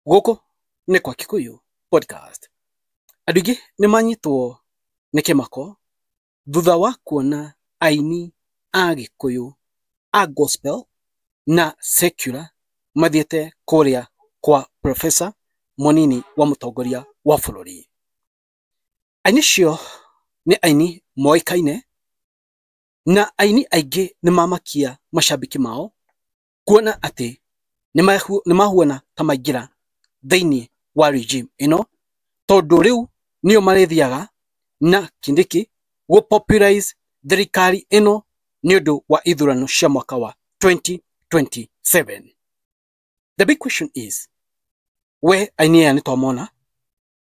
Gũkũ nĩ kwa Kikuyu Podcast. Andũ aingĩ nĩ manyitwo nĩ kĩmako thutha wa kuona aini a Gĩkũyũ a gospel na secular mathiĩte kũrĩa kwa professor mũnini wa mũtongoria wa bũrũri. Aini acio nĩ aini moĩkaine na aini aingĩ nĩ mamakia macambĩki mao kuona atĩ nĩ mahuana ta maingĩra thĩinĩ wa regime ĩno, tondũ rĩu nĩo marĩthiaga na Kindiki gũ popularize thirikari ĩno nĩ ũndũ wa ithurano cia mwaka wa 2027. The big question is, we aini aya nĩ twamona,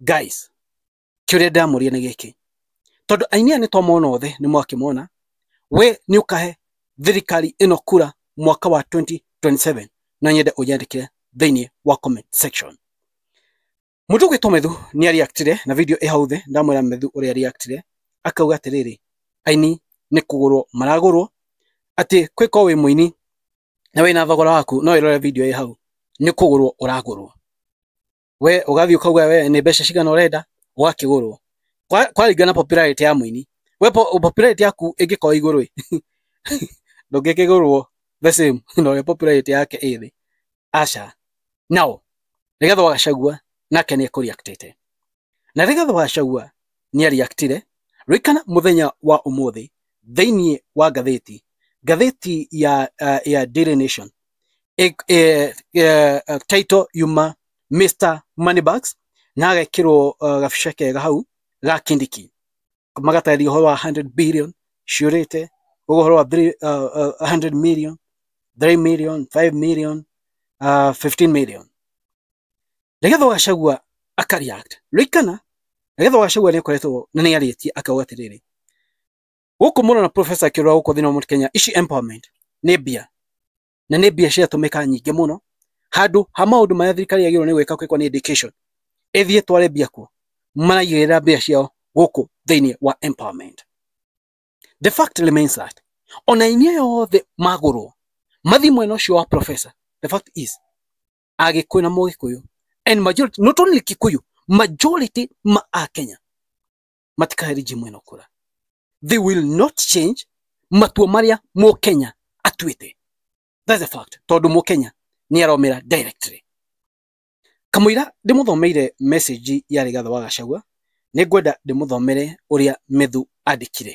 guys kiuria ndamuria ni giki tondu aini aya ni twamona othe ni mwakimona we ni ukahe thirikari ino kura mwaka wa 2027 no nyende unyandikire thiini wa comment section mutu gwitwo methu ni ariaktire na video ihau thi ndamwira methu uria ariaktire akauga atiriri aini ni kugurwo maragurwo ati kwiko wi muini na wina thogora waku no irore video ihau ni kugurwo uragurwo we ugathiĩ ukauga we nĩ mbeca cigana ũrenda ũgakĩgũrwo kwaringa na popularity ya mũini we popularity yaku ĩngĩkorwo igũrũ ndũngĩkĩgũrwo the same na ũrĩa popularity yake ĩ thĩ aca nao Rigathĩ wa Gachagua nake nĩ ekũriaktĩte na Rigathĩ wa Gachagua nĩ ariaktire rĩkana mũthenya wa ũmũthĩ thĩinĩ wa ngathĩti ngathĩti ya, uh, ya Daily Nation eh, eh, eh, title yuma Mr Moneybags na agekirwo uh, gabica kega hau ga kindiki magatarĩria ũhoro wa 100 billion ciũrĩte ũhoro wa three- uh, uh, 100 million 3 million 5 million uh, 15 million Rigathi wa Gachagua aka react. Rĩkana, Rigathi wa Gachagua nĩakoretwo na nĩarĩtie akauga atĩrĩrĩ, Gũkũ mũno na professor akĩrora gũkũ thĩinĩ wa Mount Kenya, ici empowerment nĩ mbia na nĩ mbia ciratũmĩka nyingĩ mũno handũ ha maũndũ marĩa thirikari yagĩrĩirwo nĩ gwĩka kwĩkwo nĩ education ĩthiĩ tware mbia kuo maraigĩrĩra mbia ciao gũkũ thĩinĩ wa empowerment. The fact remains that ona inyuĩ yothe magũrwo mathiĩ mwena ũcio wa professor, the fact is agĩkũyũ na mũgĩkũyũ and majority not only kikuyu majority ma akenya matikahe rigimu ĩno kura they will not change matua marĩa mũkenya atuĩte that's a fact tondũ mũkenya nĩ aromera directly kamũira ndĩmũthomeire message ya rigatha wa gacagua nĩ ngwenda ndĩmũthomere ũrĩa methu andĩkire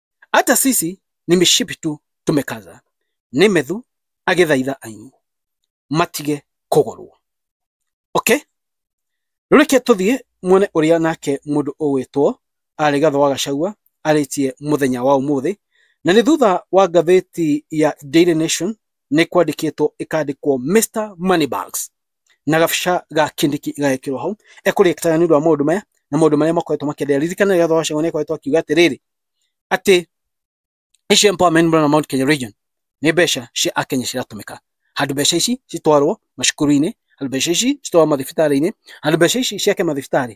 Hata sisi ni mishipi tu tumekaza. Nemethu agĩthaitha ainyu matige kũgũrwo. Okay? Rĩu reke tũthiĩ muone ũrĩa nake mũndũ ũgwĩtwo arĩ gatho wa gacagua arĩtie mũthenya wa ũmũthĩ na nĩ thutha wa ngathĩti ya Daily Nation nĩ kwandĩkĩtwo ĩkandĩkwo Mr Moneybags na gabica ga kindiki igagĩkĩrwo hau ekũrĩkana nĩ ũndũ wa maũndũ maya na maũndũ marĩa makoretwo makĩendelea ririkana rĩrĩa Gachagua nĩ akoretwo akiuga atĩrĩrĩ atĩ ici empowerment mũrana Mount Kenya region nĩ mbeca cia akenya ciratũmĩka handũ mbeca ici citwarwo macukuru-inĩ handũ mbeca ici citwarwo mathibitarĩ-inĩ handũ mbeca ici ciake mathibitarĩ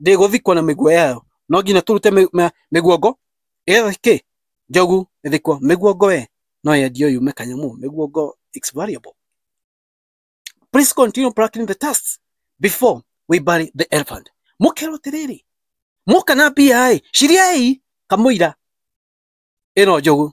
ndĩgũthikwo na mĩguo yayo no nginya tũrute mĩ- ma- mĩguongo ĩyo kĩ njogu ĩthikwo mĩguongo we no yendio yume kanyamu mĩguongo it's variable please continue plucking the tusks before we bury the elephant mũkerwo atĩrĩrĩ mũka na mbia-ĩ ciriai kamũira ĩno njogu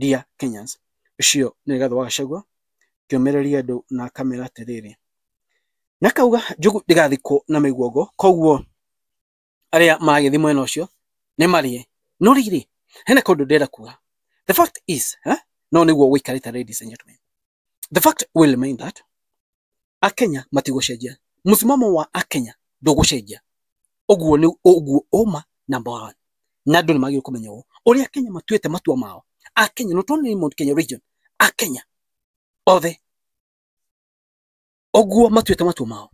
Dear Kenyans. Ũcio nĩ Rigathĩ wa Gachagua akĩũmĩrĩria andũ na akamera atĩrĩrĩ, na akauga njũgũ ndĩgathikwo na mĩguongo, koguo arĩa maragĩthiĩ mwena ũcio nĩ marĩe. No rĩrĩ, hena kaũndũ ndĩrenda kuga, the fact is, no nĩguo gũikarĩte ladies and gentlemen. the fact will remain that akenya matigũcenjia mũsimamo wa akenya ndũgũcenjia ũguo nĩ ũguo ũma number one na andũ nĩ magĩrĩirwo kũmenya ũũ ũrĩa akenya matuĩte matua mao akenya not only in Mount Kenya region akenya othe ũguo matuĩte matua mao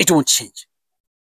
it won't change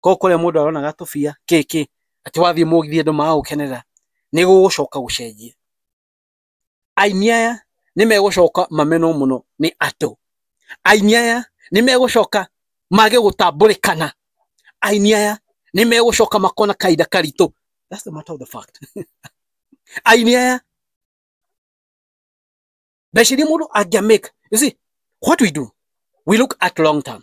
Koguo kũrĩa mũndũ aronaga tũbia, kĩ kĩ, atĩ wathiĩ mũgithi andũ magagũkenerera, nĩ gũgũcoka gũcenjia. Aini aya nĩ megũcoka mamenwo mũno nĩ andũ. Aini aya nĩ megũcoka mage gũtambũrĩkana. Aini aya nĩ megũcoka makorwo na kahinda karitũ. That's the matter of the fact. Aini aya, mbeca irĩa mũndũ angĩa make, you see, what we do, we look at long term.